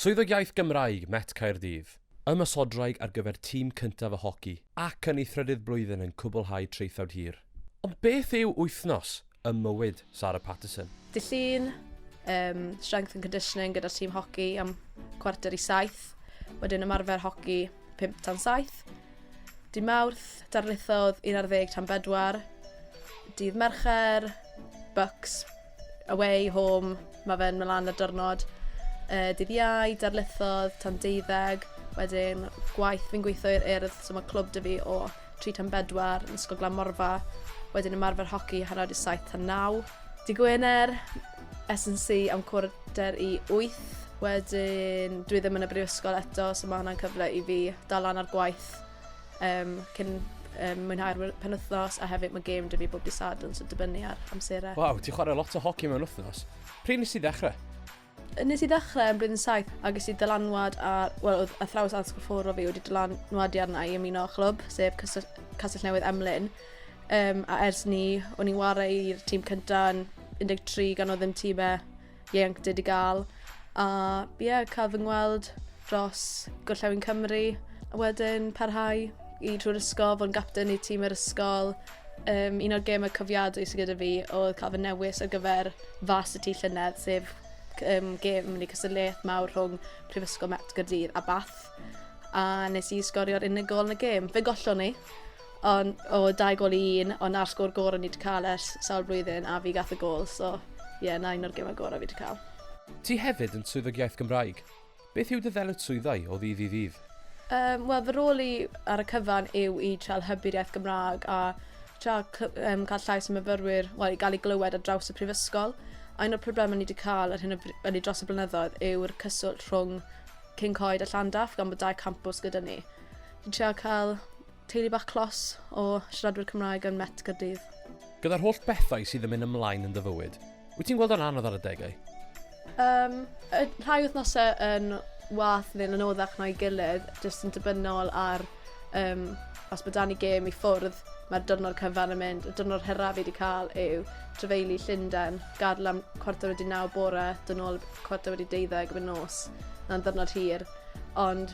Swyddog Iaith Gymraeg, Met Caerdydd. Ymosodraig ar gyfer tîm cyntaf y hoci ac yn ei thrydydd blwyddyn yn cwblhau traethawd hir. Ond beth yw wythnos ym mywyd Sarah Paterson? Dydd Llun, Yym, strength and conditioning gyda'r tîm hoci am cwarter i saith, wedyn ymarfer hoci pump tan saith. Dydd Mawrth, darlithodd un ar ddeg tan bedwar. Dydd Mercher, books, Away, home, mae fe'n mynd lan y dyrnod. Uh, dydd iau, darlithodd, tan deuddeg, wedyn gwaith fi'n gweithio i'r urdd, so mae clwb dy fi o 3 tan 4 yn Ysgol Glan Morfa, wedyn ymarfer hoci hanner awr 7 tan 9. Di Gwener, SNC am cwrder i 8, wedyn dwi ddim yn y brifysgol eto, so mae hwnna'n cyfle i fi dal lan ar gwaith Yym cyn um, mwynhau'r penwthnos a hefyd mae game 'da fi bob dydd Sadwrn so dibynnu ar amserau. Waw, ti'n chwarae lot o hoci mewn wythnos. Pryd nes i ddechrau? Nes i ddechrau yn blwyddyn 7 a ges i dylanwad ar, wel, oedd athrawes addysg ffwrdd o fi wedi dylanwadu arna i ymuno â chlwb, sef Castell Newydd Emlyn. Um, a ers ni, o'n i'n wario i'r tîm cyntaf yn 13 gan oedd ddim tîmau ieuenctid i gael. A ie, yeah, cael fy ngweld dros Gorllewin Cymru. A wedyn parhau i trwy'r ysgol, fod yn gapten i tîm yr ysgol. Um, un o'r gemau cofiadwy sydd gyda fi oedd cael fy newis ar gyfer fas y tu llynedd, sef um, gem neu cystadleuaeth mawr rhwng Prifysgol Met Gyrdydd a Bath. A nes i sgorio'r unigol yn y gem. Fe gollon ni, On- o dau gol i un ond 'na'r sgôr gorau ni 'di cael ers sawl blwyddyn a fi gath y gol so ie 'na un o'r gemau gorau fi 'di cael. Ti hefyd yn Swyddog Iaith Gymraeg. Beth yw dy ddyletswyddau o ddydd i ddydd? Um, Wel, fy rôl i ar y cyfan yw i trael hybu'r iaith Gymraeg a tra um, cael llais y myfyrwyr, wel, i gael ei glywed ar draws y prifysgol. A un o'r problemau ni wedi cael ar hyn o bryd, dros y blynyddoedd, yw'r cyswllt rhwng King Coed a Llandaff gan bod dau campws gyda ni. Fi'n trio cael Teulu bach clos o siaradwyr Cymraeg yn Met Caerdydd. Gyda'r holl bethau sydd yn mynd ymlaen yn dy fywyd, wyt ti'n gweld o'n anodd ar adegau? Um, y rhai wythnosau yn wath neu'n anoddach na'i gilydd, jyst yn dibynol ar um, os bod dan i gêm i ffwrdd, mae'r dyrnod cyfan yn mynd. Y dyrnod hyraf fi wedi cael yw trefeili Llundain, gadw am cwarter wedi naw bore, dyn nhw'n cwarter wedi deuddeg fy nos. Na'n ddyrnod hir. Ond